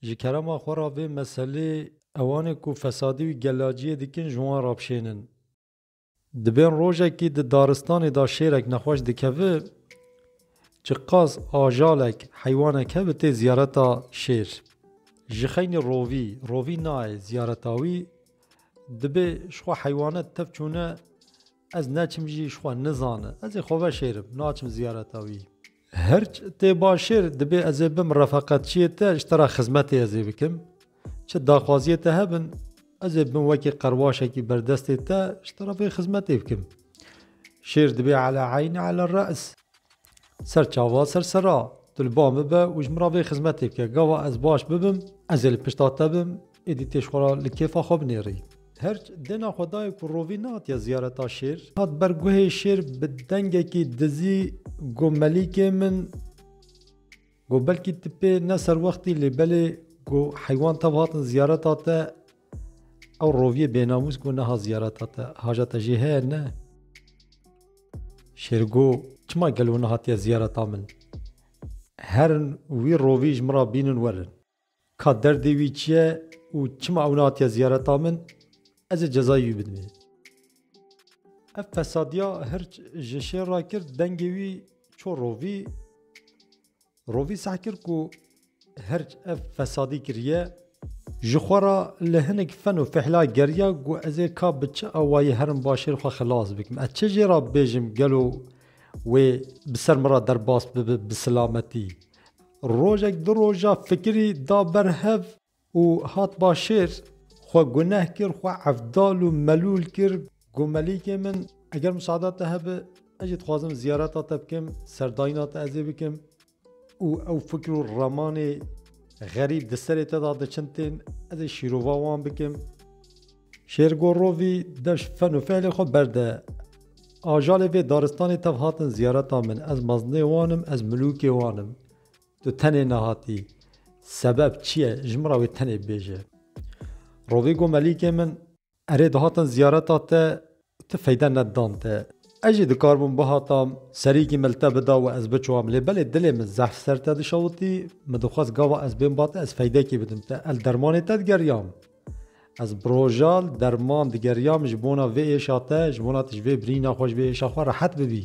Ji kerema xwe re vê meselê ewanê ku fesadî û gelaciyê dikin ji wan re bişênin. Dibên rojekî di daristanê de şêrek nexweş dikevi ji qas ajalek heywanek hebi tê ziyareta şêr. Ji xeynî rovî rovî nayê ziyareta wî dibê ji xwe heywanet tev çûne Ez neçim jî ji xwe nizane. Ez ê xwe veşêrim. Naçim ziyareta wî. Hirç tê başêr, dibê ez ê bim refeqetçiyê te, ji te re xizmetê ez ê bikim. Çi daxwaziyê te hebin, ez ê bim wekî qerwaşekî berdestê te, ji te re vê xizmetê bikim. Şêr dibê ala eyn ala re's. Ser çava ser sera, tu li ba min be û ji min re vê xizmetê bike. Gava ez baş bibim, ez ê li pişta te bim, êdî tê ji xwe re li kêfa xwe binêrî. Her dêna xwe dayê ku Rovî nehatiye ziyareta şêr, hat ber guhê şêr bi dengekî dizî got, Melîkê min, got belkî tu pê ne serwextî lê belê got heywan tev hatin ziyareta te, Ew roviyê bênamûs ku niha ziyareta te hajete jê heye ne. Şêrgo çima gelo nehatiye ziyareta min? Herin wî rovî ji min re bînin werin. Ka derdê wî çi ye û çima ew nehatiye ziyareta min? Ez ê cezayê wî bidim ê. Ev fesadiya hirç ji şêr re kir dengê wî çû rovî. Rovî sah kir ku her ev fesadî kiriye ji xwe re li hinek fen û fihla geriya ku ez ê ka bi çi awayî herim başêr xwe xilas bikim. Ez çi jê re bêjim gelo wê bi ser min re derbas bibe bi silametî. Rojek du roja fikirî da ber hev. Û hat başêr, xwe guneh kir, xwe evdal û melûl kir, got, Melîkê min, eger musada te hebe, ez jî dixwazim ziyareta te bikim, serdayîna te ez ê bikim. Û ew fikir û ramanê xerîb di serê te de diçin tên, ez ê şîrova wan bikim. Şêr got, Rovî, deş fen û fehlê xwe berde. Ajalê vê daristanê tev hatin ziyareta min, ez mezinê wan im, ez milûkê wan im. Tu tenê nehatî. Sebeb çi ye? Ji min re wê tenê bibêje. Rovî got Melîkê min. Erê dihatin ziyareta te û tu feyde nedidan te. Ez jî dikarbûm bihatam serîkî me li te bida û ez biçûam lê belê dilê min zehf ser te dişewitî. Min dixwest gava ez bêm ba te ez feydekê bidim te. El dermanê te digeriyam. Ez bi rojal derman digeriyam ji bona vê êşa te, ji bona tu ji vê birîna xwe, ji vê êşa xwe rehet bibî.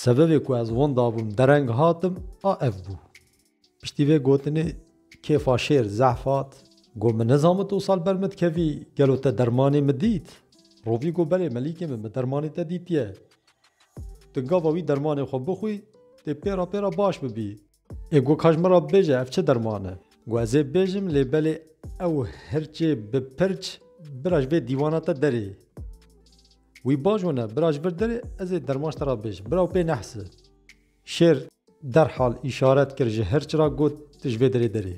Sebebê ku ez winda bûm, dereng hatim a ev bû. Piştî vê gotinê kêfa şêr zehf hat. Got min nizan min tu sal ber min dikevî, gelo te dermanê min dît? Rovî got belê Melîkê min, min dermanê te dîtiye. Tu gava wî dermanê xwe bixwî, dê pêra pêra baş bibî. Ê got ka ji min re bibêje ev çi derman e? Got ez ê bibêjim lê belê ew hirçê bi pirç bira ji vê dîwana te derê. Wî baş wene bira ji vir derê ez ê derman ji te re bibêjim. Bira wî pê nehsi. Şêr derhal îşaret kir ji hirç re got tu ji vê derê derê.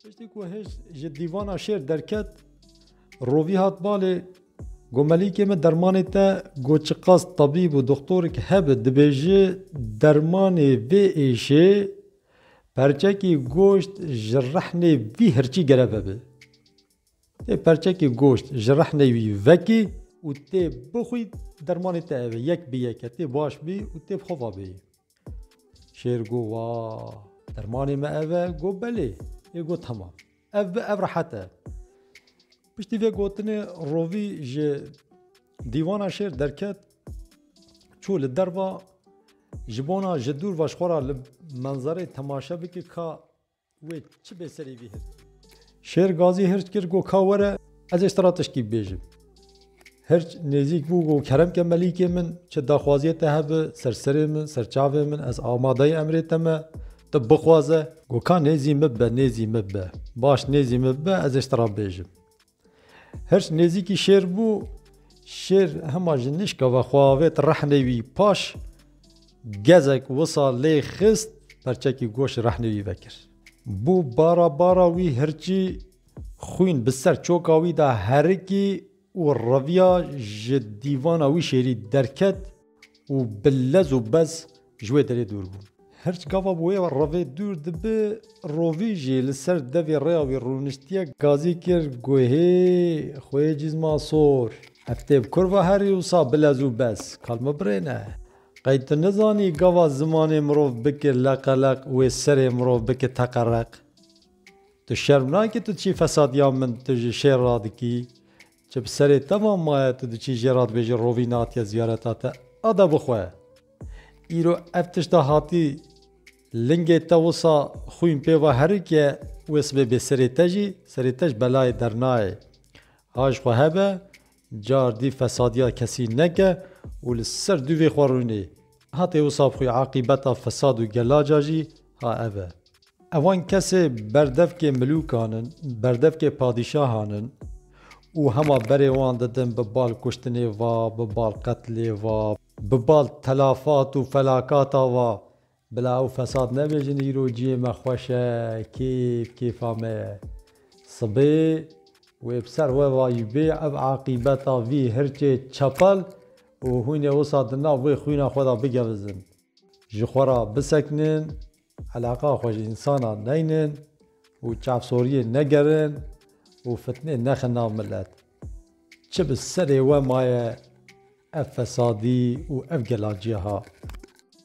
Piştî ku hêj ji dîvana şêr derket, rovî hat balê Gomelîkê min dermanê te got çiqas tabîb û doxtorek hebe dibêje dermanê vê êşê perçekî goşt ji rehnê vî hirçî gere vebe. Tê perçekî goşt ji rehnê wî vekî û tê bixwî dermanê te eve yek bi yeke tê baş bî û tê bi xwe vabêyî. Şêr got, Wa, dermanê me ev e? Got, Belê. Ê got, Temam. Ev bi, ev rehet e. Piştî vê gotinê rovî ji dîwana şêr derket, çû li derva ji bona ji dûr ve ji xwe re li menzereyê temaşe bike ka Wê çi bê serî vî hirt. Şêr gazî hirç kir got ka were ez ê sira tiştî bibêjim. Hirç nêzîk bû got kerem ke melîkê min çi daxwaziyê te hebe ser serê min, ser çavê min ez amadeyê emrê te me, tu bixwaze. Got ka nêzî min bibe, nêzî min bibe. Baş nêzî min bibe ez ê sira bibêjim. Hirç nêzîkî şêr bû, şêr hema ji nişka ve xwe avêt rehnê wî paş, gezek wisa lê xist perçekî goş rehnê wî vekir. Bû bara bara wî hirçî xwîn bi ser çoka wî de herikî û reviya ji dîvana wî şêrî derket. Û bi lez û bez ji wê derê dûr bûn. Hirç gava bi wê revê dûr dibe, rovî jî li ser devê rêya wî rûniştiye, gazî kir guhê xwe yê cîzma sor. Ev têb kurva herî wisa bi lez û bez, kal me birêne. Qey tu nizanî gava zimanê mirov bike leqeleq û wê serê mirov bike teqereq? Tu şerm nake tu çi fesadiya min tu ji şêr radikî? Çi bi serê te va maye tu diçî jê re dibêjî rovî natiye ziyareta te a de bixwe. Îro ev tişta hatî lingê te wisa xwîn pê va herike wê sibê bê serê te jî serê te ji belayê dernayê. Ha ji xwe hebe car dî fesadiya kesî neke û li ser dûvê xwe rûnê. Hatê wisa bi xwe aqîbeta fesad û gelaca jî ha ev e. Evan kesê berdevkê milûkan in, berdevkê padîşahan in û hema berê wan didin bi bal kuştinê va, bi bal qetlê va, bi bal telafat û felakata va. Bila ew fesad nebêjin îro ciyê me xweş e, kêf kêfa me ye. Sibê wê bi ser we vayîbê ev aqîbeta vî hirçê çepel Û hûn ê wisa di nav wê xwîna xwe de bigevizin, ji xwe re bisekinin, eleqeya xwe ji însanan neynin û çavsoriyê negerin û fitnê nexin nav milet. Çi bi serê we maye ev fesadî û ev gelanciya ha.